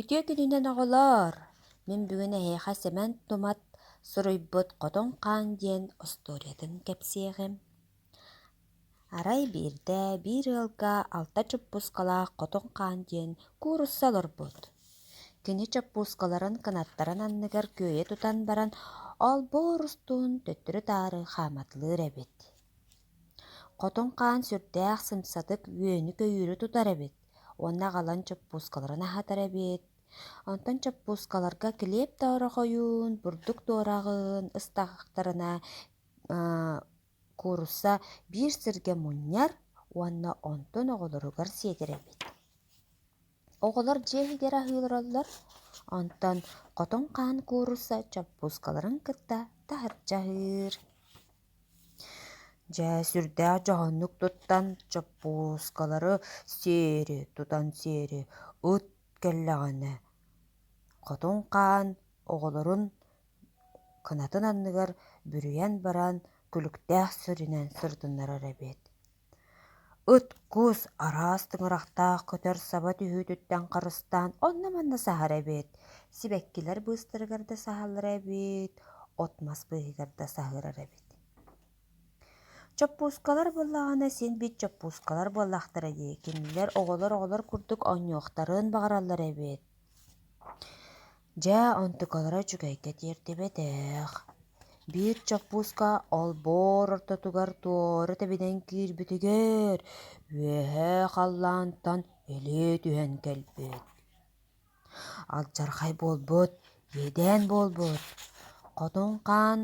Үтүө күнүнэн оҕолоор! Мин бүгүн эһиэхэ Сэмэн Тумат суруйбут «Хотон хаан» диэн остуоруйатын кэпсиэҕим. Арай биирдэ биир ыалга алта чуппуускалаах хотон хаан диэн куурусса олорбут. Кини чуппуускаларын кынаттарын анныгар күөйэ тутан баран, олбуор устун төттөрү-таары хааматылыыр эбит. Хотун хаан сүрдээх сымсатык үөнү-көйүүрү тутар эбит уонна аҕалан чуппуускаларын аһатар эбит. Онтон чуппуускаларга килиэп тоорохойуун, бурдук туораҕын ыстаахтарына куурусса биир сиргэ мунньар уонна онтун оҕолоругар сиэтэр эбит. Оҕолор дьиэ иһигэр аһыыллараллар, онтон хотун хаан куурусса чуппуускаларын кытта таһырдьа аһыыр. Дьэ, сүрдээх дьоһуннук туттан, чоппуускалары сиэри тутан сиэри ыт кэллэҕинэ, хотун хаан оҕолорун кынатын анныгар бүрүйэн баран, күлүктээх сиринэн сырытыннарар эбит Ыт кус араас тыҥырахтаах көтөр саба түһүүтүттэн харыстаан онно-манна саһар эбит. Сибэккилэр быыстарыгар да саһаллар эбит, от мас быыһыгар да саһыырар эбит. Чоппуускалар буоллаҕына син бит чоппуускалар буоллахтара дии. Кинилэр оҕолор оҕолор курдук оонньуохтарын баҕараллар эбит. Дьэ, онтукалара үчүгэйдэ тиэрдибэтэх. Биир чоппууска олбуор ортотугар туора тэбинэн киирбитигэр үөһээ халлаантан илии түһэн кэлбит. Алдьархай буолбут, иэдээн буолбут. Хотун хаан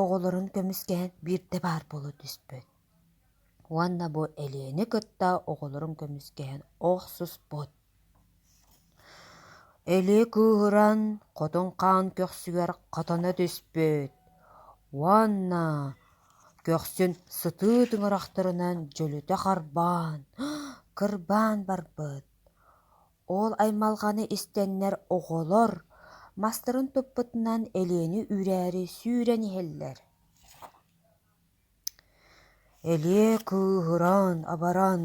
оҕолорун көмүскэһэн биирдэ баар буола түспүт. Уонна бу Элиэни кытта оҕолорун көмүскэһэн охсуспут. илии кыыһыран хотун хаан көхсүгэр хотоно түспүт уонна көхсүн сытыы тыҥырахтарынан дьөлүтэ харбаан кырбаан барбыт ол аймалҕаны истэннэр оҕолор мастарын туппутунан илиэни үүрээри сүүрэн иһэллэр Элиэ кыыһыран, абаран,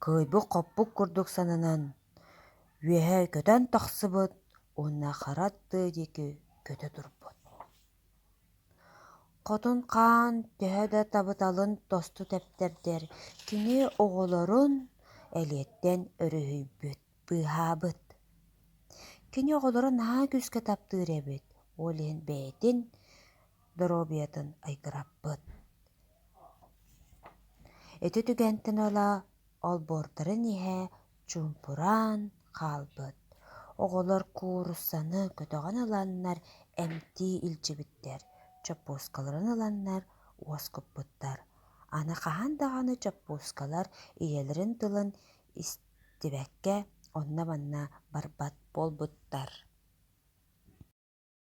кыайбыт-хоппут курдук сананан, үөһэ көтөн тахсыбыт уонна хара аттыы диэки көтө турбут. Хотун хаан төһө да табыталын тосту тэптэрдэр, кини оҕолорун Элиэттэн өрүһүйбүт, быыһаабыт. Кини оҕолоро наһаа күүскэ таптыыр эбит, ол иһин бэйэтин доруобуйатын айгыраппыт. Ити түгэнтэн ыла олбуордарын иһэ чуумпураан хаалбыт. Оҕолор кууруссаны көтөҕөн ыланнар эмтии илдьибиттэр, чоппуускаларын ыланнар уоскуппуттар. Аны хаһан даҕаны чоппуускалар ийэлэрин тылын истибэккэ онно-манна барбат буолбуттар.